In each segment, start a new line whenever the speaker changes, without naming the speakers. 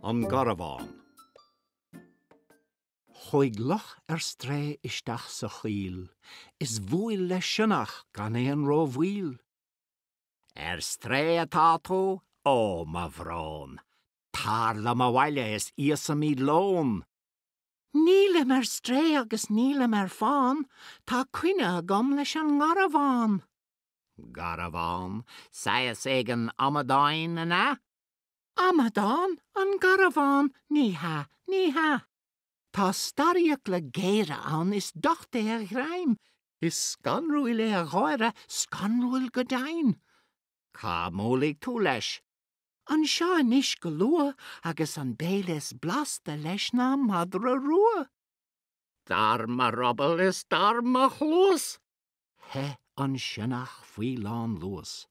an garbhán. Chuaigh luch ar strae isteach sa choill is bhuail le sionnach gan aon ró-mhoill. Ar strae atá tú? Ó, mo bhrón! Tar liom abhaile is íosfaimid lón! Nílim ar strae agus nílim ar fán, tá coinne agam leis an ngarbhán. Garbhán? Saghas éigin amadáin, an ea? Amadán? An garbhán? Ní hea, ní hea. Tá starrfhiacla géara ann, is docht é a ghreim. Is scanrúil é a gháire, scanrúil go deimhin. Cá mbuailfidh tú leis? Anseo anois go luath agus an béile is blasta leis ná madra rua. Dar mo ruball is dar mo chluas! Theith an sionnach faoi lánluas.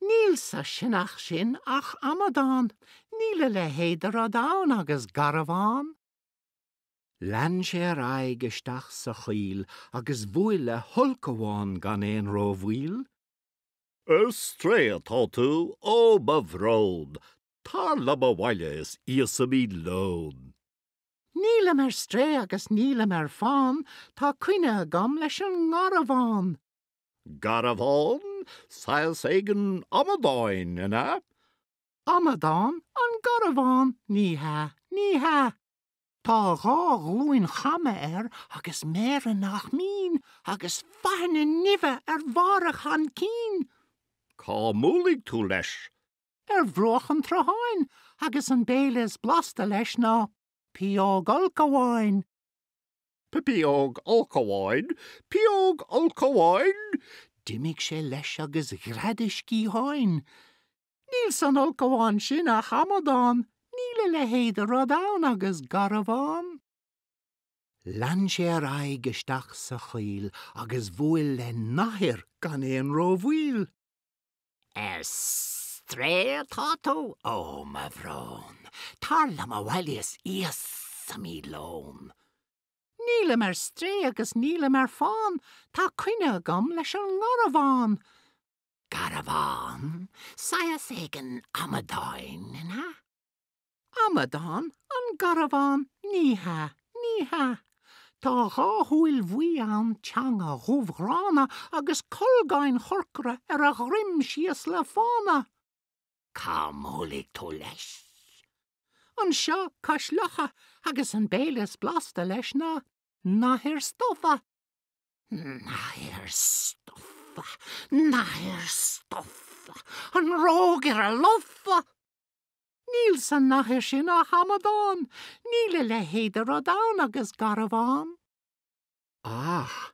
Níl sa sionnach sin ach amadán, níl a leithéid de rud ann agus garbhán. Lean sé ar aghaidh isteach sa choill agus bhuail le hulchabhán gan aon rómhoill. Ar strae atá tú? Ó, mo bhrón! Tar liom abhaile is íosfaimid lón. Nílim ar strae agus nílim ar fán, tá coinne agam leis an ngarbhán. Garbhán? Saghas éigin amadáin, an ea? Amadán an Garbhán? Ní hea, ní hea. Tá dhá ghlúin chama air agus méara nach mín, agus faithne nimhe ar bharr a chaincín. Cá mbuailfidh tú leis? Ar bhruach an tsrutháin, agus an béile is blasta leis ná pióg ulchabháin. Pióg ulchabháin, pióg ulchabháin. D'imigh sé leis agus ghread a sciatháin. Níl san ulchabhán sin ach amadán, níl a leithéid de rud ann agus garbhán. Lean sé ar aghaidh isteach sa choill agus bhuail le nathair gan aon rómhoill. Ar strae atá tú? Ó, mo bhrón! Tar liom abhaile is íosfaimid lón. Nílim ar strae agus nílim ar fán, tá coinne agam leis an ngarbhán. Garbhán? Saghas éigin amadáin, an ea? Amadán an Garbhán, ní hea, ní hea. Tá dhá shúil bhuí ann, teanga dhubh ghránna agus colgáin chorcra ar a dhroim síos le fána. Cá mbuailfidh tú leis? Anseo cois locha agus an béile is blasta leis ná nathair stofa. Nathair stofa, nathair stofa, an rógaire lofa! Níl sa nathair sin ach amadán, níl a leithéid de rud ann agus Garbhán. Ach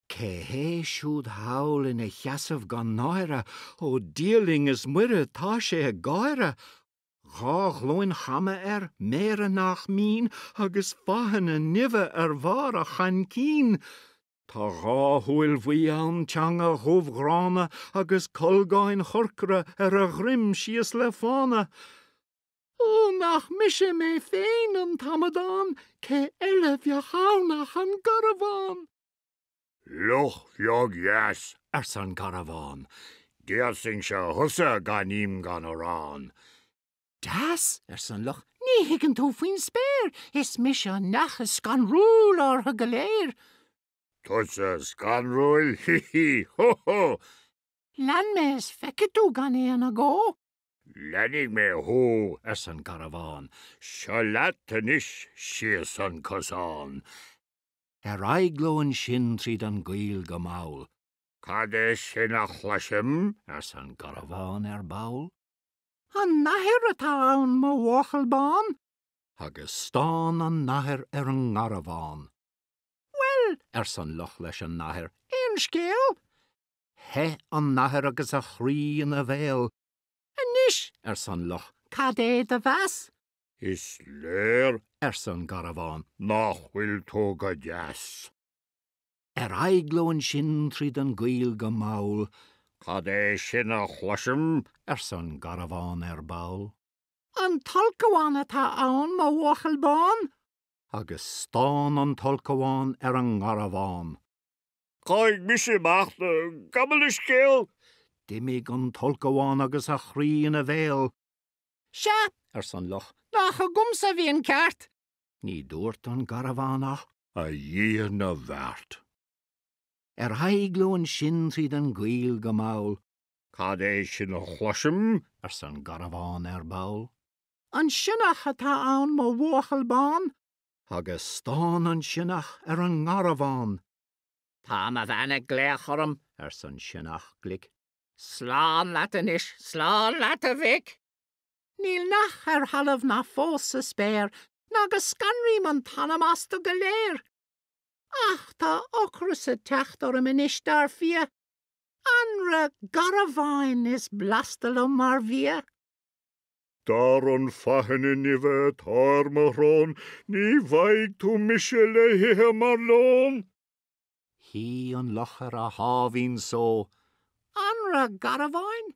cé hé siúd thall ina sheasamh gan náire, ó Dia linn is Muire tá sé ag gáire, Dhá ghlúin chama air, méara nach mín, agus fáthanna nimhe ar bharr a chaincín. Tá dhá shúil bhuí ann, teanga dhubh ghránna, agus colgáin chorcra ar a dhroim síos le fána. Ó, nach mise mé féin an t-amadán, cé eile bheadh ann ach an Garbhán! Luch bheag dheas, arsa an Garbhán, d'íosfainnse thusa gan im gan arán. Deas! arsa an luch, ní thuigeann tú faoin spéir, is mise an neach is scanrúla orthu go léir! Tusa scanrúil? Hí hí! Hó hó! Lean mé is feicfidh tú gan aon agó! Leanfaidh mé thú! arsa an Garbhán, seo leat anois síos an cosán! Ar aghaidh leo ansin tríd an gcoill go mall. Cad é sin a chloisim? arsa an Garbhán ar ball. An nathair atá ann mo bhuachaill bán. Agus stán an nathair ar an nGarbhán. Bhuel, arsa an luch leis an nathair, aon scéal? Theith an nathair agus a chroí ina bhéal. Anois, arsa an luch, cad é do mheas? Is léir, arsa an Garbhán, nach bhfuil tú go deas. Ar aghaidh leo ansin tríd an gcoill go mall. Cad é sin a chloisim? arsa an Garbhán ar ball. An t-ulchabhán atá ann, mo bhuachaill bán! Agus stán an t-ulchabhán ar an nGarbhán. Caithfidh
mise imeacht, gabh mo leithscéal! D'imigh an
t-ulchabhán agus a chroí ina bhéal. Sea! arsa an luch, nach agamsa a bhí an ceart! Ní dúirt an Garbhán ach, A Dhia na bhFeart! Ar aghaidh leo ansin tríd an gcoill go mall. Cad é
sin a chloisim? arsa an Garbhán
ar ball. An sionnach atá ann, mo bhuachaill bán! Agus stán an sionnach ar an nGarbhán. Tá mo bhean ag glaoch orm, arsa an sionnach glic. Slán leat anois, slán leat a mhic! Níl neach ar thalamh ná fós sa spéir ná go scanraím an t-anam astu go léir. Ach tá ocras ag teacht orm anois, dar fia! Anraith garbháin is blasta liom mar bhia.
Dar an faithne nimhe atá ar mo shrón, ní bhfaighidh tú mise le hithe mar lón!
Shuigh an luch ar a sháimhín só, Anraith garbháin?